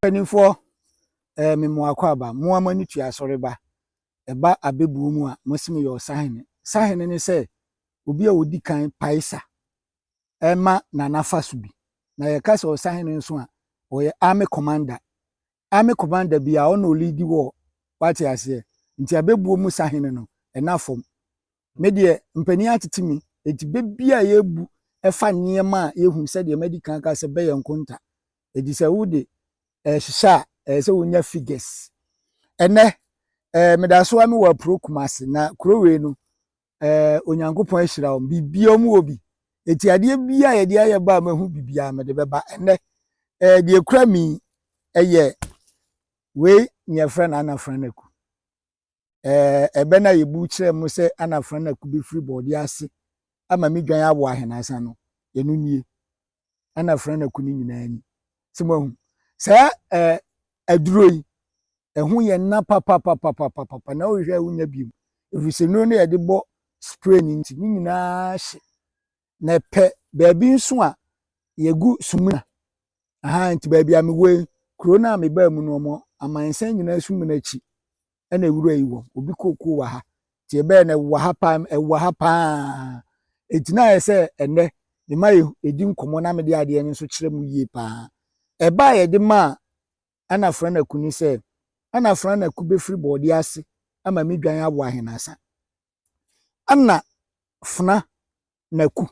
Mpanimfoɔ, ɛɛ me mmoakwaaba, moa mo ani tua asɔreba. Ɛba abɛbuo mu a, mo se mo yɛ ɔsahene. Sahene ne sɛ, obi a ɔdi kan pae sa ma n'anafa so bi. Na yɛka sɛ ɔsahene nso a, ɔyɛ army commander. Ame Commander bi a ɔna ɔliidi wɔ hɔ wate aseɛ nti abɛbuo mu sahene no ɛna fam me deɛ mpanin atete me nti bɛ bi a yɛbu ɛfa nneɛma a yɛhu sɛdeɛ madi kan ka sɛ bɛyɛ nkonta nti sɛ wo de ɛhyehyɛ a ɛyɛ sɛ wonya figures ɛnɛ ɛɛ medasoa me wɔ apuro kumase na kuro wei no ɛɛ eh, onyankopɔn ahyira wɔn biribiara mu wɔ bi eti adeɛ bi a yɛde ayɛ ba a mahu biribiara mede bɛba ɛnɛ ɛɛ eh, deɛ kura mi ɛyɛ wei nea ɛfrɛ no anafra no aku ɛɛ eh, ɛbɛ no a yɛbu kyerɛ mu sɛ anafra no aku bɛfiri bɔɔdeɛ ase ama me dwan awɔ ahenasa no ɛno nie ɛna Afranako no nyinaa ni sɛ moahu saa eh, aduro yi ɛho yɛ nna papapapapapa na wohwɛ a wonya biom ɛfiri sɛ nnuro no yɛde bɔ spray no nti ne nyinaa hye na ɛpɛ baabi nso a yɛgu sumina aha nti baabi a mewɔ yi kuro no a mebaa mu no ɔmo amansan nyinaa sumina akyi ɛna nwura yi wɔ obi kookoo wɔ ha nti ɛbɛyɛ no ɛwɔ ha paa ɛwɔ ha paa eti na ayɛ sɛ ɛnɛ mema yɛdi nkɔmmɔ na mede adeɛ no nso kyerɛ mu yie paa ɛba a yɛde maa ɛna franako ni sɛ ɛna franako bɛfiri bɔɔdeɛ ase ama me dwan awo ahenasa ɛna fena naku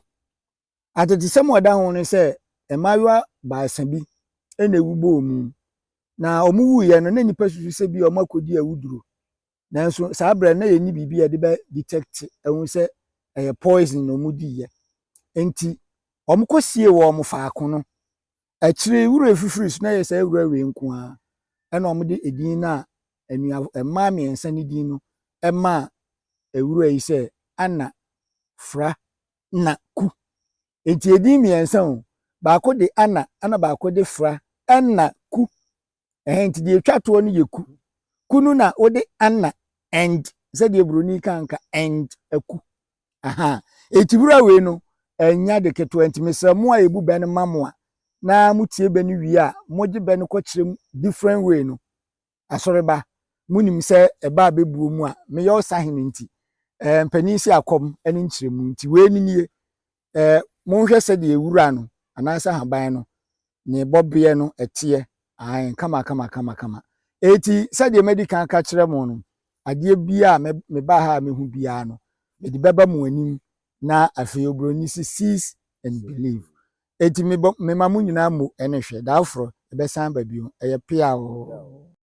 Atetesɛm a ɛda ho ne sɛ mmaayewa baasa bi na ewu bɔɔ mu, na wɔwuiɛ no na nnipa susu sɛ bi a wɔakɔdi awuduro. Nanso saa berɛ no na yɛnni biribi a yɛde bɛ detect ahu sɛ ɛyɛ poison na wɔdiiɛ. Enti wɔkɔsie wɔn faako no. Akyire yi wura fifiri so na ɛyɛ saa wura wei nko ara ɛna wɔde edin no a anua mmaa mmiɛnsa no din no ɛmaa wura yi sɛ Anna Fra na ku. Enti edin mmiɛnsa o, baako de ana ɛna baako de fra, ɛna ku. Ɛhɛn nti deɛ etwa toɔ no yɛ ku. Ku no na wode ana and sɛdeɛ buroni ka nka and aku. Aha. Eti wura wei no ɛnya de ketewa nti mesrɛ mo a ebu bɛ no ma mo a na motie bɛ no wie a mogye bɛ no kɔkyerɛ mu different way no asɔreba, munim sɛ ɛba a ɛbɛbuo mu a meyɛ ɔsahene nti, eh, mpanin si akɔm ne nkyerɛmu nti, wei ne nie, eh, monhwɛ sɛdeɛ wura no anaasɛ haban no ne bɔbeɛ no ɛteɛ, ae, kama kama kama kama. Eti sɛdeɛ madi kan ka kyerɛ mo no, adeɛ biara a mebaa ha a mehu biara no, mede bɛba mo anim na afei oburoni si sees and believe. Eti mebɔ mema mo nyinaa mo ɛne hwɛ, daaforɔ ɛbɛsan ba bio, ɛyɛ pea oo.